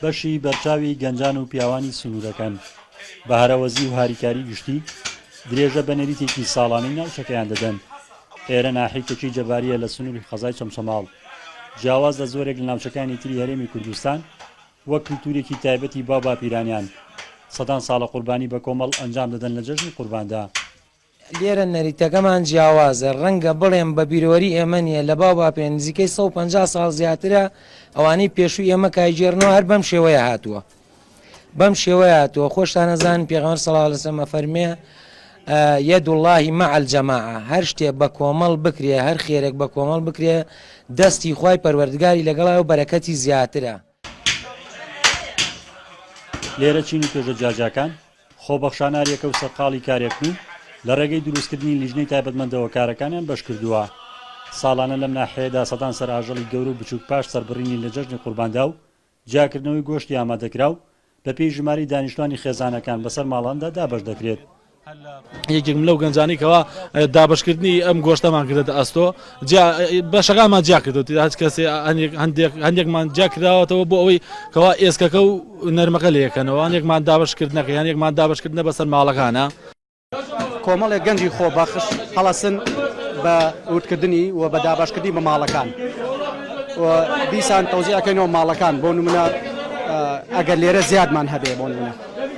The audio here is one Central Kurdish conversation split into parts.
بەشی بەرچاوی گەنجان و پیاوانی سنوورەکان بە هەرەوەزی و هاریکاری گشتی درێژە بە نەریتێکی ساڵانەی ناوچەکەیان دەدەن ئێرە ناحیکەکی جەباریە لە سنووری قەزای چەمچەماڵ جیاواز لە زۆرێک لە ناوچەکانی تری هەرێمی کوردستان وەک کللتورێکی تایبەتی با باپیرانیان سەدان ساڵە قوربانی بە کۆمەڵ ئەنجام دەدەن لە جەژنی قورباندا لێرە نەریتەکەمان جیاوازە، ڕەنگە بڵێم بە بیرۆری ئێمە نییە، لە باو باپێ نزیکەی سەد و پەنجا ساڵ زیاترە ئەوانەی پێشووی ئێمە کایگێڕنەوە هەر بەم شێوەیە هاتووە بەم شێوەیە هاتووە خۆشتان ئەزانن پێغەمبەر صلی اللە علیه وسلم ئەفەرمێ یەد اللهی مع الجماعە هەر شتێ بە کۆمەڵ بکرێ هەر خێرێک بە کۆمەڵ بکرێ دەستی خوای پەروەردگاری لەگەڵای و بەرەکەتی زیاترە لێرە چین و توێژە جیاجیاکان خۆبەخشانە ئەریەکە و سەرقاڵی کارێکن و لە ڕێگەی دروستکردنی لیژنەی تایبەتمەندەوە کارەکانیان بەشکردووە. ساڵانە لەم ناحیەیەدا سەدان سەرئاژەڵی گەورە و بچووک پاش سەربڕینی لە جەژنی قورباندا و جیاکردنەوەی گۆشتی ئامادەکراو، بە پێی ژمارەی دانیشتوانی خێزانەکان بەسەر ماڵاندا دابەش دەکرێت. یەکێکم لەو گەنجانەی کەوا دابەشکردنی ئەم گۆشتەمان کردەتە ئەستۆ جیا بەشەکانمان جیا کردوتی هەچ کەسێ هەندێک هەندێکمان جیا کراوەتەوە بۆ ئەوەی کەوا ئێسکەکە و نەرمەکە لەکەنەوە هەندێکمان دابەشکردنەکە یان یەکمان دابەشکردنە بەسەر ماڵەکانە کۆمەڵێک گەنجی خۆبەخش هەڵەسن بە وردکردنی و بە دابەشکردنی بە ماڵەکان و دیسان تەوزیعەکەینەوە ماڵەکان بۆ نمونە ئەگەر لێرە زیادمان هەبێ بۆ نمونە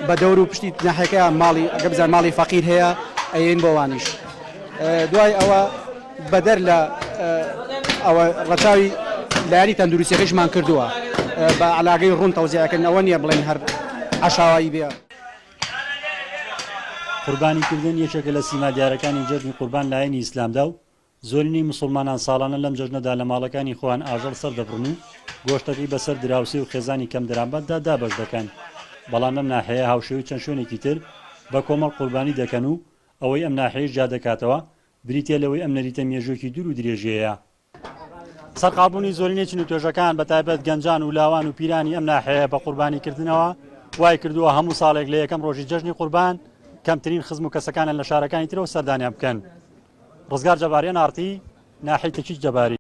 بە دەور و پشتی ناحەکەیان ماڵی ئەگە بزان ماڵی فەقیر هەیە ئەین بۆوانیش دوای ئەوە بەدەر لە ئەوە ڕەچاوی لایانی تەندروستیەکەشمان کردووە بە علاگەی ڕوون تەوزیعەکەن ئەوە نیە بڵێن هەر عشاوایی بێ. قوربانی کردن یەکێکە لە سیما دیارەکانی جەژنی قوربان لایەنی ئیسلامدا و زۆرینەی موسوڵمانان ساڵانە لەم جەژنەدا لە ماڵەکانی خۆیان ئاژەڵ سەردەبڕن و گۆشتەکەی بەسەر دراوسێ و خێزانی کەم دەرامەتدا دابەش دەکەن بەڵام لەم ناحێیە هاوشێوەی چەند شوێنێکی تر بە کۆمەڵ قوربانی دەکەن و ئەوەی ئەم ناحێیەش جیادەکاتەوە بریتیە لەوەی ئەم نەریتە مێژووێکی دوور و درێژیەیە سەرقاڵبوونی زۆرینەی چین و توێژەکان بە تایبەت گەنجان و لاوان و پیرانی ئەم ناحێیە بە قوربانی کردنەوە وای کردووە هەموو ساڵێک لە یەکەم ڕۆژی جەژنی قوربان کەمترین خزم و کەسەکانیان لە شارەکانی ترەوە سەردانیان بکەن. ڕزگار جەباری، ئەن ئاڕ تی، ناحیەی تەکیچ جەباری.